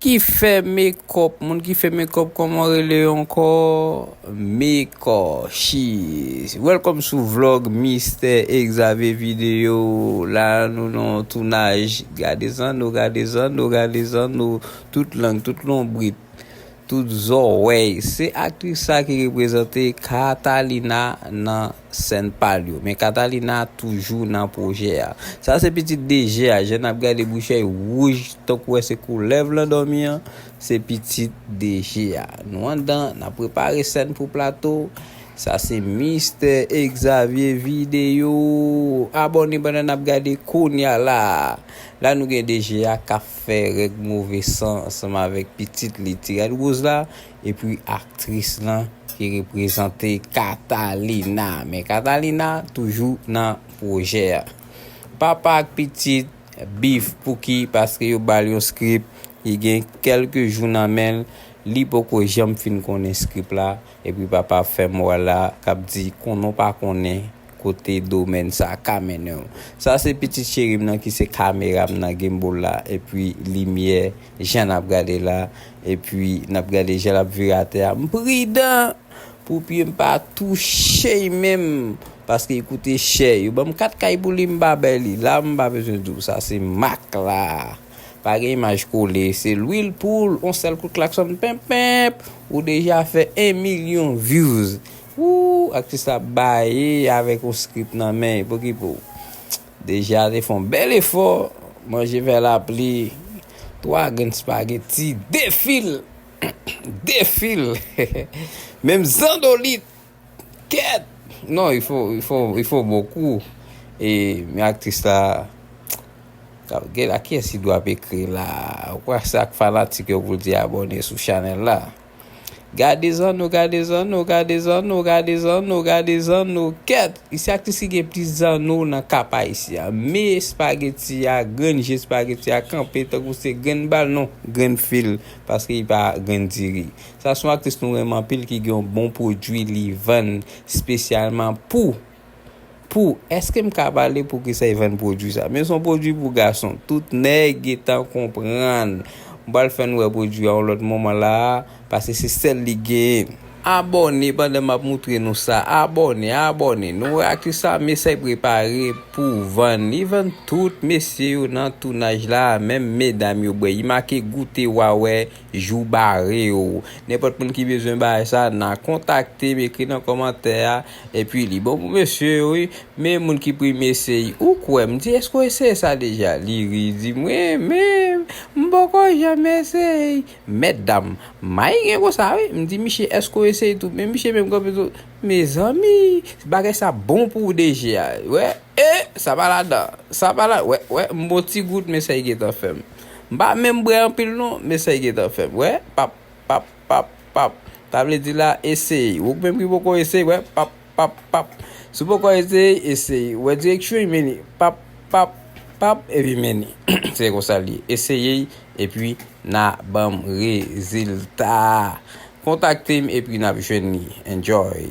Ki fè mekòp moun ki fè mekòp kòman ou rele yo ankò meko she is welcome sou vlog mistè exave video la nou nan yon tounaj gade zanno gade zanno gade zanno tout lang tout lonbrit tout zòwèy se aktris sa ki reprezante katalina nan. sèn pal yo men Catalina toujou nan pwojè a. Sa se pitit DG a, jan nap gade bouchey wouj tankou wè se koulèv lan dòmi an, se pitit DG a. Nou andan nap prepare sèn pou plato, sa se Mistè Exavier Video, abòne pandan nap gade kounya la. La nou gen DG a kap fè règ move san ansanm avèk pitit li Tiradruz la. Epi aktris lan ki reprezante Catalina. Men Catalina toujou nan pwojè a. Papa ak pitit beef pouki paske yo bal yon script li gen kelke jou nan men l li poko janm fin konnen script la epi papa fè moral la kap di konnen w pa konnen kote domèn sa ka mennen w. Sa se pitit cheri m nan ki se kamera m nan, gimbal la, epi limyè, jan n ap gade la, epi n ap gade jan l ap vire atè a. M pridan pou pye m pa touche y menm, paske y koute chè. Yo ban m 4 kay pou li, m pa bay li. La m pa bezwen di w sa se mak la. Pa gen imaj kole, se lwil poul, yon sèl kout klaksòn, penp penp, ou deja fè 1 milyon vyouz. Ooh aktris la baye avèk yon script nan men poukipo Deja te fè yon bèl efò manje fè lapli 3 grenn spaghetti 2 fil 2 fil menm zandolit kèt non il faut il faut il faut beaucoup men aktris la kap gèt la kiyès ki dwe ap ekri la ou kwè se ak fanatik yo poul di abòne sou chanèl la. Gade zanno gade zanno gade zanno gade zanno gade zanno kèt se aktris ki gen plis zanno nan kap ayisyen me espageti a grenn je espageti a kanpe tankou se grenn bal non grenn fil paske li pa grenn diri sa son aktris nou renmen anpil ki gen yon bon pwodwi li vann spesyalman pou Pou, eske m ka pale pou kisa e vann pwodwi sa. Men son pwodwi pou gason. Tout nèg getan konprann. M pral fè n wè pwodwi a yon lòt moman la a, paske se sèl li genyen. Abòne pandan m ap moutre nou sa. Abòne, abòne. Nou wè atis sa Mesay prepare pou vann. Li vann tout mesye yo nan tounaj la a, menm medam yo bwè. Li make goute wa wè. Jou bare yo. Nenpòt moun ki bezwen bagay sa nan kontaktem ekri nan kòmantè a epi li bon pou mesye yo wi men moun ki premye eseye ou kwè m di eske w eseye sa deja li ri li di mwen menm m poko janm eseye mètdam may gen konsa wi m di misye eske w eseye tou men misye menm kanpe tou mezanmi bagay sa bon pou w deja wè e sa pa ladan sa pa ladan wè wè m bon ti gout men sa li gentan fè m. M pa menm bwè anpil non men sa gentan fèm wè pap pap pap pap sa vle di la eseye ou menm ki poko eseye wè pap pap pap si w poko eseye eseye wè direksyon men li pap pap pap epi men li se konsa li ye eseye epi na banm rezilta kontakte m epi nap jwenn li enjoy.